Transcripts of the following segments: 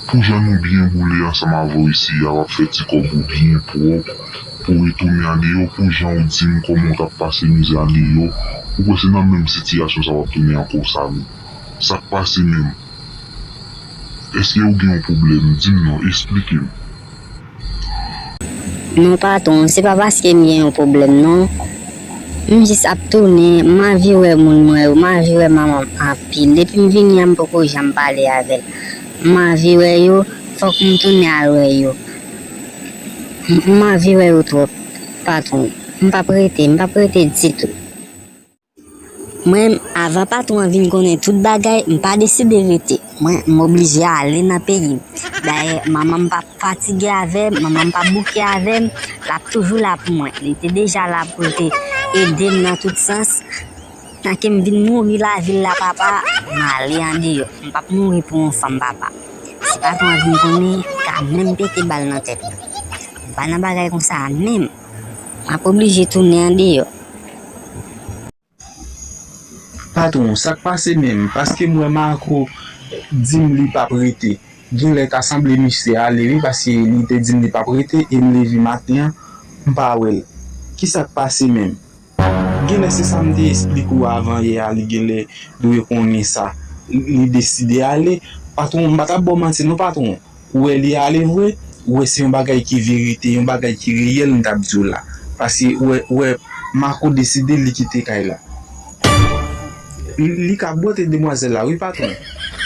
Pou jan nou byen boule ansanm avèw isi a wap fè ti kòb ou byen pwòp pouw retounen a Neyò pou janw dim kòman ou tap pase mizè a Neyò ou kwè se nan menm sitiyasyon sa wap tounen ankò Samy sak pase menm èske ou gen yon pwoblèm dim non esplikem. Non patron, se pa paske m gen yon pwoblèm non. M jis ap tounen, m anvi wè moun mwen yo, m anvi wè manman m anpil. Depi m vini an m poko janm pale avè l. M anvi wè yo, fòk m tounen al wè yo. M anvi wè yo twòp, patron. M p ap rete, m p ap rete ditou. Mwen, avan patwon an vin konnen tout bagay, m pa deside rete. Mwen, m oblije ale nan peyi m. Dayè, manman m pap fatige avè m, manman m pap bouke avè m, l ap toujou la pou mwen. Li te deja la pou l te ede m nan tout sans. Tan ke m vin mouri lavil la, papa, m ale andeyò. M pap mouri pou yon fanm, papa. Si patwon an vin konnen, li ka menm pete bal nan tèt mwen. M pa nan bagay konsa menm. m ap oblije tounen andeyò. Patron, sa k pase menm? Paske m wè Marco di m li p ap rete. Genlè ta sanble misye ale wi paske li te di m li p ap rete e m leve maten an m pa wè l. Kisa k pase menm? Genlè se sam te esplike ou avan yè a li genlè dwe konnen sa li deside ale patron m pa tap baw manti non patron ou wè li ale vre ou wè se yon bagay ki verite yon bagay ki reyèl m tap diw la paske ou wè ou wè Marco deside li kite kay la li ka bwote demwazèl la wi patron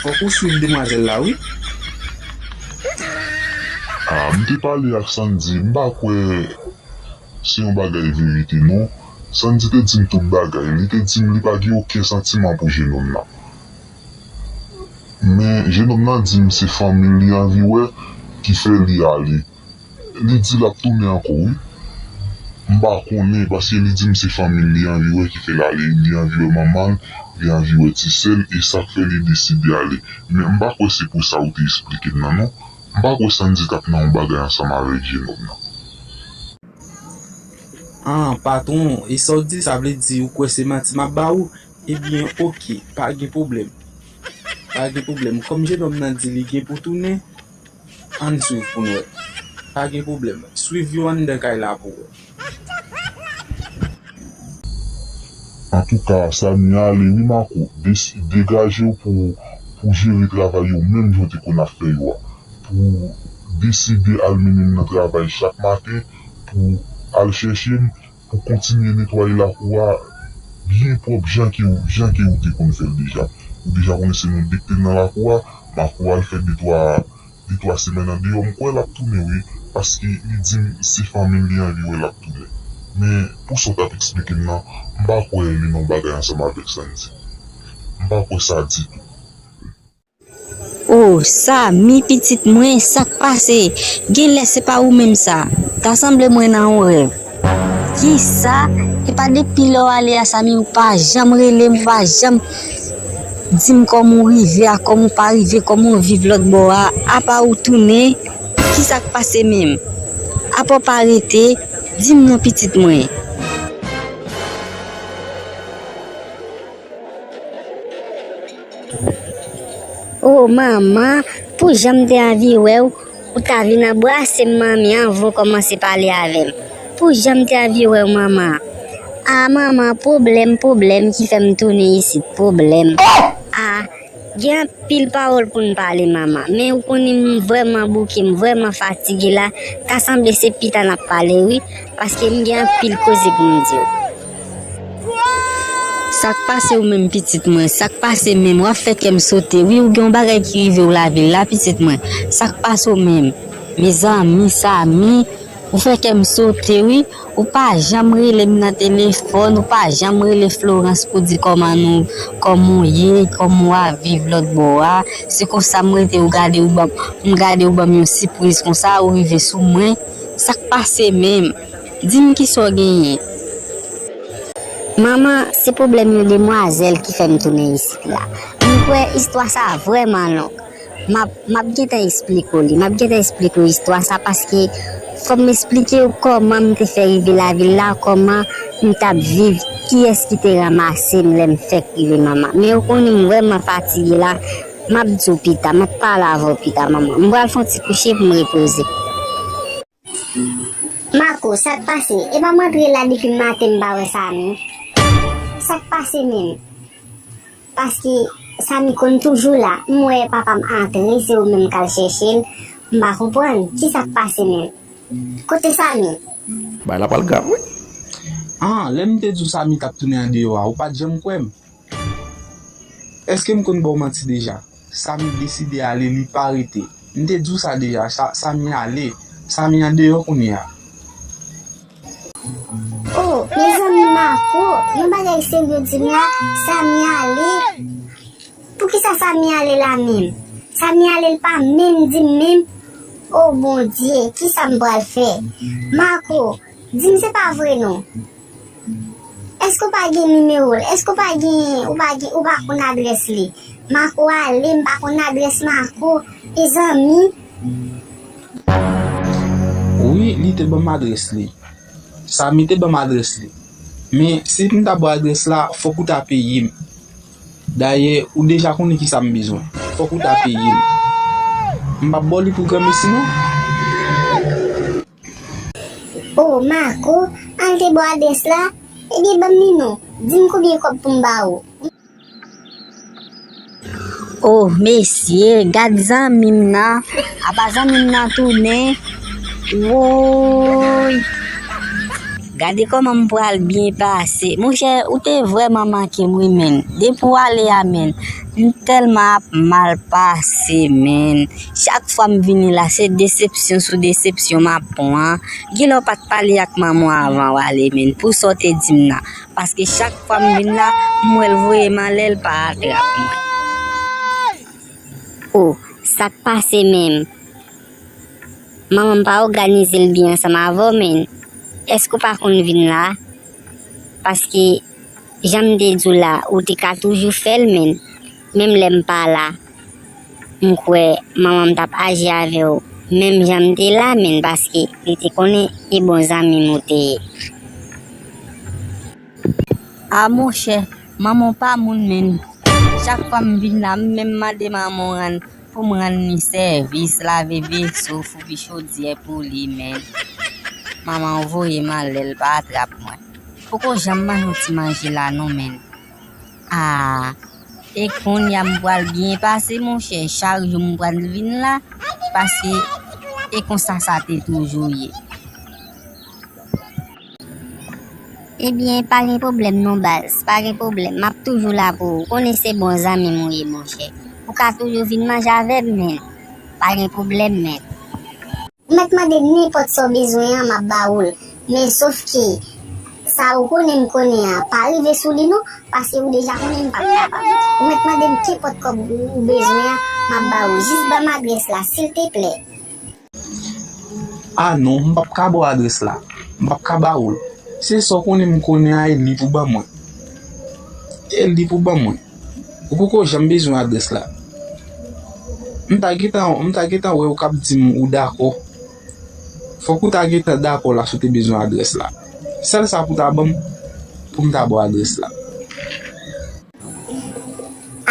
fòk ou swiv demwazèl la wi. Ah m te pale ak Sandy m pa kwè. se yon bagay verite non. Sandy te dim tout bagay, li te dim li pa gen oken santiman pou jenom nan. Men jenom nan dim se fanmil li anvi wè ki fè li ale. Li di lap tounen ankò wi. M pa konnen paske li dim se fanmil li anvi wè ki fèl ale, li anvi wè manmanl, li anvi wè ti sèl e sak fè li deside ale. Men m pa kwè se pou sa ou te esplikem nan non. M pa kwè Sandy tap nan yon bagay ansanm avèk vye nonm nan. Ahh patron e sa w di sa vle di ou kwè se manti map ba ou ebyen ok pa gen problèm pa gen problèm kòm jenòm nan di li gen pou tounen ann swiv pou n wè pa gen problèm swiv yo anndan kay la pou wè. Antouka Samia ale wi Marco degajew pou pou jere travay yo menm jan w te konn ap fè yo a pou deside al mennen m nan travay chak maten pou al chèche m pou kontinye netwaye lakou a byen pwòp jan ke ou jan ke ou te konn fè l deja ou deja konnen se nou 2 k te nan lakou a Marco al fè detwa li 3 semèn andeyò m kwè lap tounen wi paske li dim se fanmil li anvi wè lap tounen men pou sa w tap eksplikem nan m pa kwè li nan yon bagay ansanm avèk Sandy m pa kwè sa ditou. Ohh Samy pitit mwen sak pase? Genlè se pa ou menm sa ta sanble mwen nan yon rèv. Kisa? Epa depi lè w ale a Samy ou pa janm rele m ou pa janm Di m kòman w rive a kòman w pa rive kòman w viv lòtbò a apa ou tounen kisa k pase menm apa w pa rete Di m non pitit mwen. O manman pou jan m te anvi wè w Ou ta vin anbrasem manmi anvan w komanse pale avem pou janm te anvi wew manman ah manman pwoblem pwoblem ki fem tounen isit pwoblem ah gen anpil pawol poun pale manman men ou konnen m vreman bouke m vreman fatige la ta sanble se pita nap pale wi paske m gen anpil koze poum diw. Sak pase ou menm pitit mwen? Sak pase menm? Wap fè kèm sote wi ou gen yon bagay ki rive ou lavil la pitit mwen? Sak pase ou menm? Mezanmi Samy ou fè kèm sote wi ou pa janm relem nan telefòn ou pa janm rele Florence pou di kòman nou kòman ou ye kòman wap viv lòt bò a se konsa m rete ou gade ou banm m gade ou banm yon sipriz konsa ou rive sou mwen sak pase menm? Dim kisa w genyen? Manman, se pwoblèm yon demwazèl ki fè m tounen isit la. M kwè istwa sa a vrèman long. M ap, m ap gen tan esplike w li. M ap gen tan esplike w istwa sa a paske fò m esplike w kòman m te fè rive lavil la, kòman m t ap viv, kiyès ki te ranmase m lè m fèk rive manman. Men ou konnen m vrèman fatige la. M ap di w pita. M ap pale avè w pita manman. M pral fè yon ti kouche pou m repoze. Marco, sak pase? Epa m antre la depi maten m pa wè Samy. Sak pase menm? Paske Samy konn toujou la, m wè papa m antre se ou menm kal chèche l, m pa konprann, kisak pase menm? Kote Samy? Bagay la pral grav wi. An, lè m te di w Samy t ap tounen andeyò a, ou pa t janm kwè m? Eske m konn ba w manti deja? Samy deside ale, li pa rete. M te di w sa deja, Samy ale. Samy an deyò kounye a. Oh, mezanmi Marco, yon bagay serye di m la, Samy ale? Poukisa Samy ale la menm? Samy ale l pa menm di m menm? Oh Bondye, kisa m pral fè? Marco, di m se pa vre non? Eske ou pa gen nimewo l? Eske ou pa gen ou pa konn adrès li? Marco ale m pa konn adrès Marco e zanmi. Wi li te banm adrès li. Samy te banm adrès li. Men si m ta ba w adrès la fòk ou ta peye m. Dayè ou deja konnen kisa m bezwen. Fòk ou ta peye m. M pap ba w li pou granmesi non. Oh Marco al te baw adrès la ebyen banm li non dim konbyen kòb poum ba ou. Oh mesye gad zanmim nan apa zanmim nan tounen woyy. Gade koman m pral byen pase. Monchè ou te vrèman mankem wi menn. Depi w ale a menn. M telman ap mal pase menn. Chak fwa m vini la se desepsyon sou desepsyon m ap pran. Gilò pa t pale ak manman w avan w ale menn pou sa w te di m nan. Paske chak fwa m vin la, m wè l voye m ale l pa atrap mwen. O, sa k pase menm? Manman m pa òganize l byen ansanm avè w menn. Èske w pa konn vin la? Paske jan m te di w la, ou te ka toujou fè l menn. Menm lè m pa la, m kwè manman m t ap aji avè w menm jan m te la menn paske li te konnen ki bon zanmi m ou te ye. A monchè, manman w pa moun menn. Chak fwa m vin la, m menm mande manman w rann pou m rann li sèvis, lave veso, foubi chodyè pou li menn. Manman w voye m ale, l pa atrap mwen. Poko janm ban nou ti manje la non menn. Aah e konnya m pral byen pase monchè chak jou m pral vin la paske e konsa sa te toujou ye. Ebyen pa gen pwoblèm non baz, pa gen pwoblèm map toujou la pou ou, konnen se bon zanmi m ou ye monchè. Ou ka toujou vin manje avè m men, pa gen pwoblèm men. Ou mèt mande nenpòt sa w bezwen an m ap ba ou l, men sof ke sa ou konnen m konnen an pa rive sou li non, paske ou deja konnen m p ap kapab. Ou mèt mande m kenpòt kòb ou bezwen an m ap ba ou, jis ban m adrès la silteplè. A non, m p ap ka ba w adrès la, m p ap ka ba ou l. Se sa w konnen m konnen an e li pou ban mwen. E li pou ban mwen. Ou poko janm bezwen adrès la. M ta gentan, m ta gentan wè ou kap di m ou dakò. Fòk ou ta gentan dakò la si w te bezwen adrès la. Sèl sa pou ta ban m, pou m ta ba w adrès la.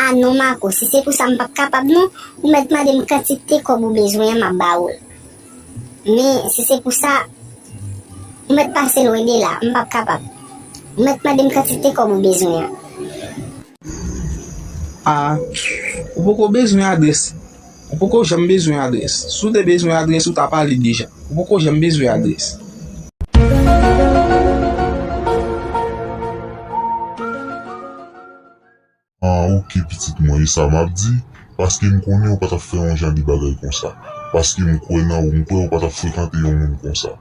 A non Mako, si se pou sa m pap kapab non. Ou mèt mande m kantite kòb ou bezwen an, m ap ba ou l. Men, si se pou sa, ou mèt pase lwen de la, m p ap kapab. Ou mèt mande m kantite kòb ou bezwen an. A, Ou poko bezwen adrès. Ou poko janm bezwen adrès. Si w te bezwen adrès, ou ta pale deja. Ou poko janm bezwen adrès. An ok pitit mwen e sa map di paske m konnen ou pa tap fè yon jan de bagay konsa paske m kwè nan ou m kwè ou pa tap frekante yon moun konsa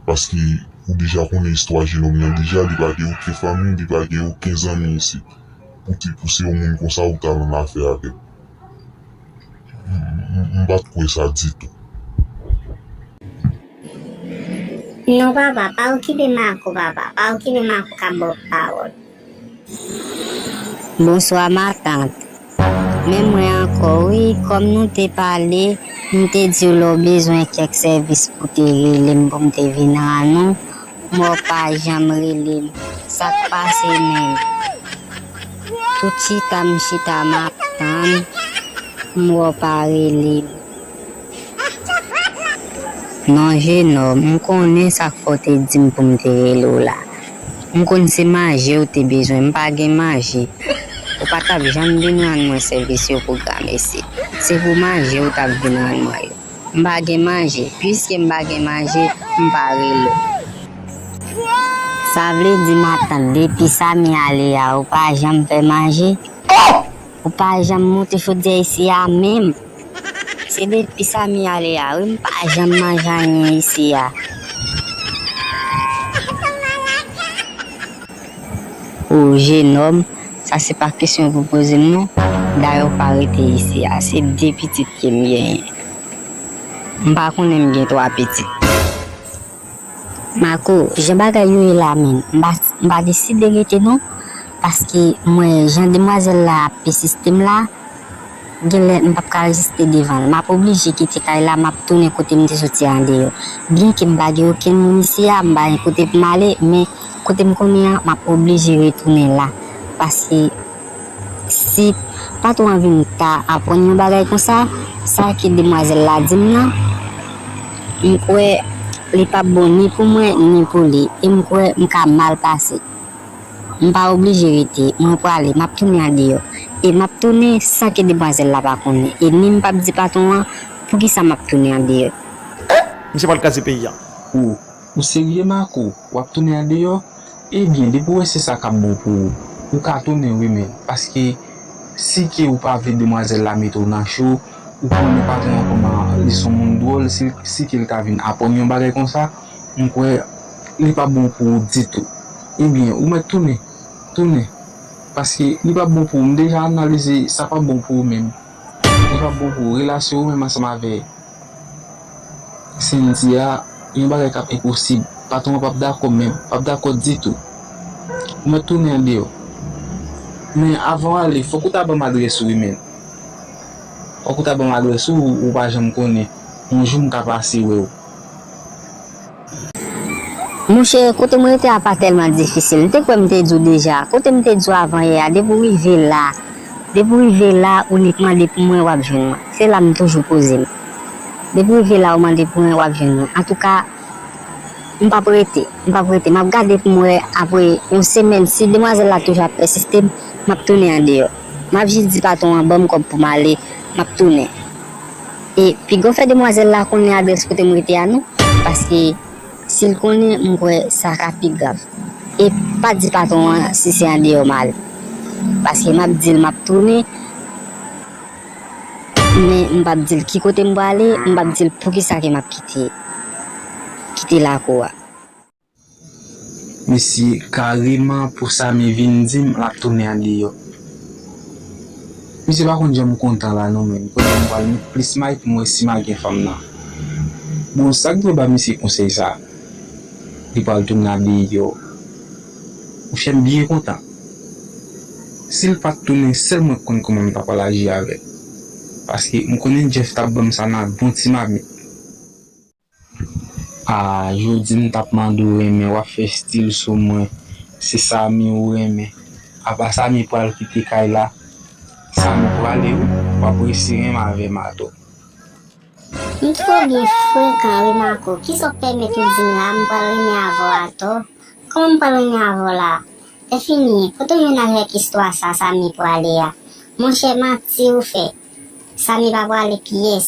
paske ou deja konnen istwa jenom nan deja li pa gen oken fanmi li pa gen oken zanmi isit pou te pou se yon moun konsa ou tal annafè avèl m pat kwè sa ditou. Non papa pa okipe marco papa pa okipe marco kap baw pawol. Bonswa ma tante men mwen ankò wi kòm nou te pale m te diw lèw bezwen kèk sèvis pou te relem poum te vin ranou men w pa janm relem sak pase menm tout chita m chita map tann m wè w pa relem. Non Jeno, m konnen sa k fè w te di m pou m te rele w la. M konn se manje w te bezwen, m pa gen manje. Ou pa t ap janm vin rann mwen sèvis yo pou granmesi. Se pou manje w t ap vin rann mwen yo. M pa gen manje. Piske m pa gen manje, m pa rele w. Sa vle di matant depi Samy ale a ou pa janm fè manje? Ou pa janm moute chodyè isi a menm. Se depi Samy ale a wi m pa janm manje anyen isi a. Ou jenòm, sa se pa kesyon pou poze m non. Dayè ou pa rete isi a. Se 2 pitit ke m genyen. M pa konnen m gen 3 pitit. Marco, jan bagay yo ye la menm, m pa m pa deside rete non paske m wè jan demwazèl la ap pesiste m la genlè m pap ka reziste devan l, m ap oblije kite kay la m ap tounen kote m te soti a andeyò. Byenke m pa gen okenn moun isi a, m pa gen kote pou m ale men kote m konnen an m ap oblije retounen la paske. Si patwon an vin ta aprann yon bagay konsa, sa ke demwazèl la di m nan, m kwè li p ap bon ni pou mwen ni pou li e m kwè m ka mal pase. M pa oblije rete, mwen prale, m ap tounen andeyò. E m ap tounen san ke demwazèl la pa konnen e ni m p ap di patwon an poukisa m ap tounen andeyò. Ohh! Misye pral kraze peyi a. Ohh! Ou serye Marco? Wap tounen andeyò? Ebyen depi ou wè se sa kap bon pou ou, ou ka tounen wi men paske si ke ou pa vle demwazèl la mete ou nan cho, ou konnen patron an kòman li son moun dwòl si ke li ta vin aprann yon bagay konsa m kwè li pap bon pou ou ditou. Ebyen ou mèt tounen, tounen paske li pap bon pou ou m deja analize sa pap bon pou ou menm, li pap bon pou ou relasyon ou menm ansanm avè. Sendy a yon bagay kap enposib patron an pap dakò menm pap dakò ditou ou mèt tounen andeyò men avanw ale fòk ou ta banm adrès ou wi menn fòk ou ta banm adrès ou ou pa janm konnen yon jou mka pase wèw. Monchè, kote m rete a pa tèlman difisil. M te kwè m te di w deja. Kote m te di w avan yè a, depi w rive la, depi w rive la, inikman depi mwen w ap jwenn mwen. Se la m toujou poze m. Depi w rive la ou mande pou mwen, w ap jwenn mwen. Antouka, m p ap rete. M p ap rete. M ap gade pou m wè apre yon semèn, si demwazèl la toujou ap pèsiste, m ap tounen andeyò. M ap jis di patwon an ban m kòb pou m ale, m ap tounen. E pigaw fè demwazèl la konnen adrès kote m rete a non paske sil konnen m kwè sa ka pi grav. E pa di patwon an si se andeyò m al paske map dil map tounen men m pap dil ki kote m prale m pap dil poukisa ke map kite kite lakou a. Mesi kareman pou sa me vin dim lap tounen an deyo. Misye pa konn janm kontan la non menn kounya m pral met plis may pou m wè si ma gen fanm nan. Bon sak dwe ba misye konsey sa li pral tounen an deyo. Ou fem byen kontan. Sil pat tounen sel mwen k konn koman m ta pral aji avel. Paske m konnen Jeff tap banm sa nan bon ti mamit. Ah jodi m tap mande w renmen wap fè stil sou mwen se Samy ou renmen apa Samy pral kite kay la Samy prale wi wap resi renmn avèm atò. M twò byen frekan wi Marco kisa w pèmèt ou di m la m pral renmen avè w atò kòman m pral renmen avè w la Enfini kote m vin avèk istwa sa Samy prale a monchè manti ou fè Samy pa prale pyès.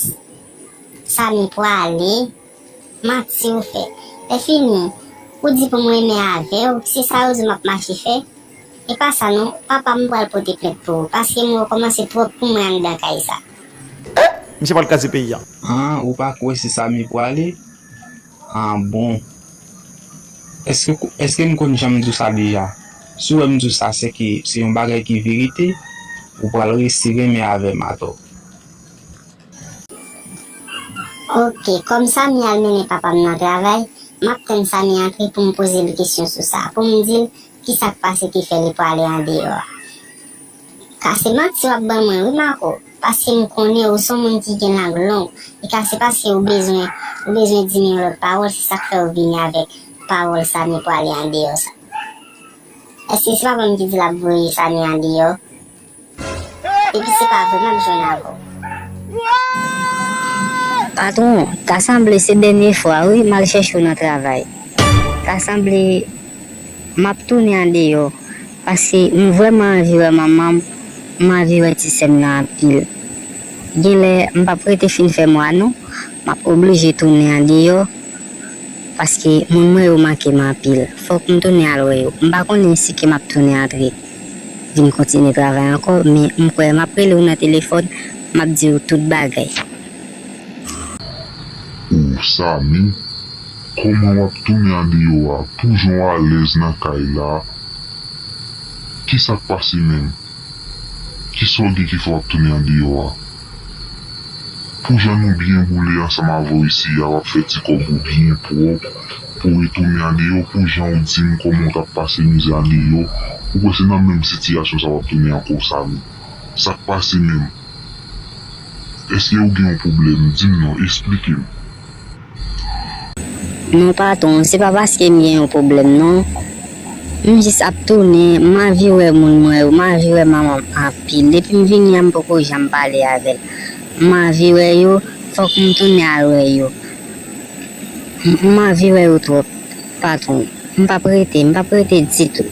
Samy pwale Manti ou fè Lèfini ou di pou m renmen avèw se sa ou di map mache fè E pa sa non papa m pral pote plent pou ou paske m wè w kòmanse twòp pou mwen anndan kay sa. Ohh misye pral kraze peyi an. An ou pa kwè se Samy pwale An bon Eske m konn janm di w sa deja Si w wè m di w sa sèke se yon bagay ki verite Ou pral resi renmen avè m atò. Ok kòm Samy al mennen papam nan travay map tann Samy antre poum pozel kesyon sou sa poum dil kisak pase ki fè li pwale andeyò a ka se manti wap ban mwen wi Marco paskem konnen ou son moun ki gen lang long e ka se paske ou bezwen ou bezwen dim yon lòt pawòl se sak fèw vini avèk pawòl Samy pwale andeyò sa èske se papam ki dil ap voye Samy andeyò. Epi se pa vre menm jwenn avè w. Patron, ta sanble se dènye fwa wi m al chèche w nan travay. Ta sanble m ap tounen andeyò paske m vrèman anvi wè manman m, m anvi wè ti sè m nan anpil. Genlè m p ap rete fin fè mwa non, m ap oblije tounen andeyò paske moun mwen yo manke m anpil. Fòk m tounen al wè yo. M pa konnen si ke m ap tounen antre. Vin kontinye travay ankò men m kwè map rele w nan telefòn map di w tout bagay. Ooh Samy kòman wap tounen andeyò a pou jan w alèz nan kay la kisak pase menm kisa w gen ki fè wap tounen andeyò a. Pou jan nou byen boule ansanm avèw isi a wap fè ti kòb ou byen pwòp pouw retounen a Neyò pou janw dim kòman ou tap pase mizè a Neyò ou kwè se nan menm sitiyasyon sa wap tounen ankò Samy sak pase menm èske ou gen yon pwoblèm dim non esplikem. Non patron, se pa paske m gen yon pwoblèm non. M jis ap tounen, m anvi wè moun mwen yo, m anvi wè manman m anpil. Depi m vini an m poko janm pale avè l. M anvi wè yo, fòk m tounen al wè yo. M anvi wè yo twòp, patron. M pap rete, m pap rete ditou.